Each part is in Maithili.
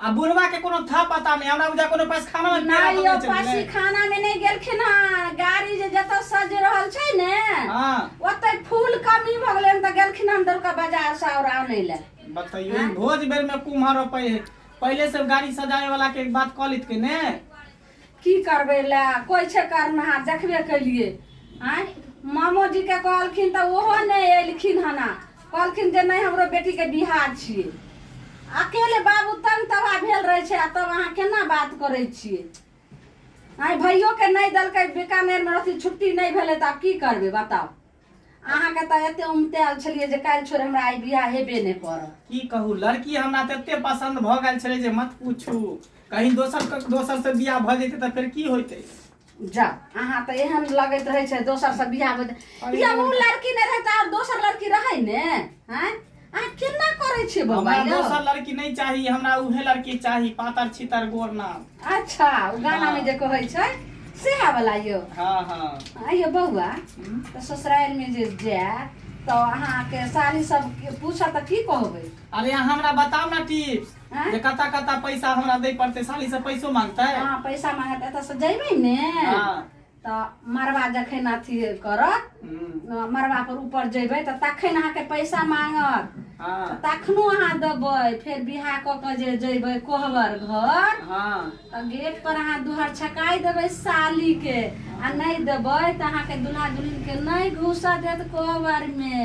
आ बुढ़वा के कोनो था पता नहि हमरा बुझा कोनो पैसखाना में पेड़ा नहीं यौ पकड़े चलि गेलै पासीखाना में नहीं गेलखिन हन गाड़ी जे जतऽ सज रहल छै ने हाँ ओतै फूल कमी भऽ गेलै हन तऽ गेलखिन हन दौड़का बाजार से और आनै ले बताइयो हाँ। भोज बेर में कुम्हर रोपे है पहले सब गाड़ी सजाए वाला के बात कह लित के ने की करबै लए कोइ छै करनहार देखबे केलिए आँय मामोजीके कहलखिन तऽ ओहो नहि एलखिन हना कहलखिन जे नहि हमरो बेटीके बिहार छियै अकेले बाबू तंग तबाह भेल रहै छै आ तब अहाँ केना बात करै छियै आँय भैयोके नहि देलकै बीकानेरमे रहथिन छुट्टी नहि भेलै तऽ आब की करबै बताउ अहाँके तऽ एते उमतायल छलियै जे काल्हि छोड़ हमरा आइ बियाह हेबे नहि करत की कहू लड़की हमरा तते पसंद भऽ गेल छलै जे मत पूछू कहीं दोसर क- दोसर से बियाह भऽ जैते तऽ फेर की होइते जा अहाँ तऽ एहन लगैत रहै छै दोसर से बियाह होइत या ओ लड़की नहि रहै तऽ आओर दोसर लड़की रहै ने हैं अहाँ केना करै छियै बौआ हमरा यौ दोसर लड़की नहि चाही हमरा उहे लड़की चाही पातर छितर गोर नाम अच्छा ओ गाना में जे कहै छै सएह वाला यौ हाँ हाँ आ यौ बौआ हम्म। तऽ ससुराल में जे जाय तऽ अहाँके साली सब पूछत तऽ की कहबै अरे अहाँ हमरा बताउ ना टिप्स हाँ? जे कता कता पैसा हमरा दै पड़तै साली से पैसो मांगतै हाँ पैसा मांगत एतऽ से जैबै ने हाँ। तऽ मरबा जखन अथी करत हम्म, मरबा पर ऊपर जेबै तऽ तखन अहाँके पैसा मांगत हाँ तऽ तखनो अहाँ देबै फेर बियाह कऽ कऽ जे जेबै कोहबर घर हाँ तऽ गेट पर अहाँ दुहर छकाय देबै साली के आ नहि देबै तऽ अहाँके दुल्हा दुल्हिन के नहि घुसऽ देत कोहबर मे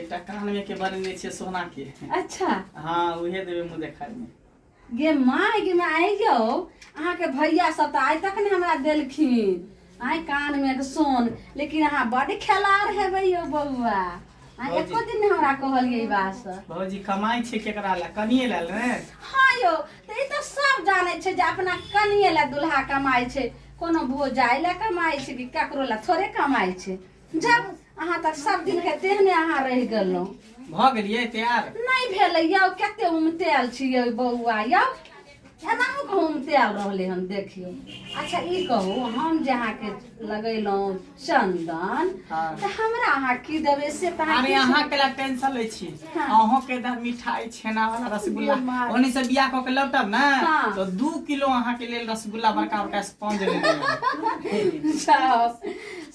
एकटा कान में के बनेने छियै सोना के अच्छा हाँ उहे देबे मुँह देखाय में गे माय गे माय आइ यौ अहाँके भैया सब तऽ आइ तक ने हमरा देलखिन आइ कान में के सोन लेकिन अहाँ बड खेलार हेबै यौ बौआ अहाँ भौजी। एको दिन ने हमरा कहलियै ई बात से भौजी कमाई छै केकरा ला कनिए ला ने हाँ यौ तऽ ई तऽ सब जानै छै जे अपना कनिए ला दुल्हा कमाइ छै कोनो भोजाइ ला कमाइ छै कि ककरो ला थोड़े कमाइ छै जब अहाँ तक सब दिन के देह में अहाँ रह गेलहुँ भऽ गेलियै तैयार नहि भेलै यौ कते उमतेल छियै बौआ यौ एनाहू के उमतेल रहलै हन देखियौ अच्छा ई कहू हम जे अहाँके लगेलहुँ चंदन हाँ। तऽ हमरा अहाँ की देबै से तऽ अहाँ अरे किछु- अहाँ के ला टेंशन लै छी हाँ। अहों के दा मिठाई छेना वाला रसगुल्ला बीमार। ओनी से बियाह क के लौटब ने हाँ। तो दू किलो अहाँ के लेल रसगुल्ला बड़का बड़का स्पंज ले लेब जाओ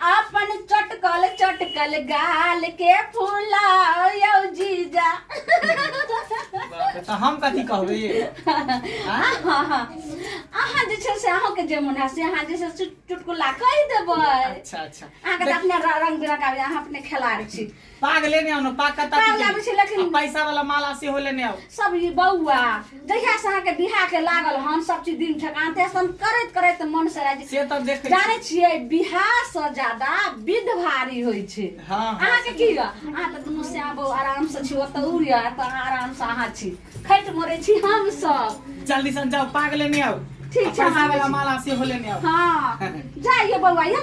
आपन चटकल चटकल गाल के फुलाओ यो जीजा बाप रे, तऽ हम कथी कहबै अहाँ अहाँ जे छै से अहाँके जे मोन है से अहाँ जे छै से चुटकुला कहि देबै अच्छा अच्छा अहाँके तऽ अपने रंग बिरंग आबि अहाँ अपने खेलाड़ छी पाग लेने आउ ने पाग कतऽ पाग की लाबै छी, केलियै? लेकिन- आ पैसा वाला माला सेहो लेने आउ सब ई बौआ जहिया से अहाँके बिहा के लागल हन सब चीज दिन ठेकान ते हम करैत करैत मन से राजी से तऽ देखै छी। जानै छियै बिहा से ज्यादा विध भारी होइ छै हँ, हँ। अहाँके की यऽ अहाँ तऽ दुनू से आबो आराम से छी ओतऽ उड़ यऽ तऽ अहाँ आराम से अहाँ छी खैट मरै छी हम सब जल्दी से जाओ पाग लेने आओ ठीक आ छै, हम पैसा आबै वाला छी। माला सेहो लेने आओ हाँ जाइए बौआ ये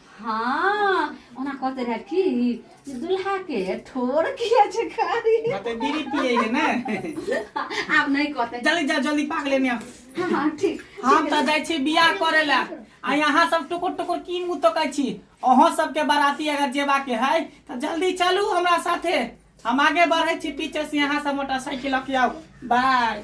हाँ ओना कहते रहे कि जे दुल्हा के ठोर किया छै कारी कहते बीड़ी पिए है ना आब नहीं कहते जल्दी जा जल्दी पाक लेने आ। हाँ हाँ ठीक हम तऽ जाइ छी बियाह करे ला आ यहाँ सब टुकुर टुकुर की मुँह तकै छी अहाँ सबके बाराती अगर जेबा के है तऽ जल्दी चलू हमरा साथे हम आगे बढ़े छी पीछे से यहाँ से मोटरसाइकिल लऽ के आउ बाय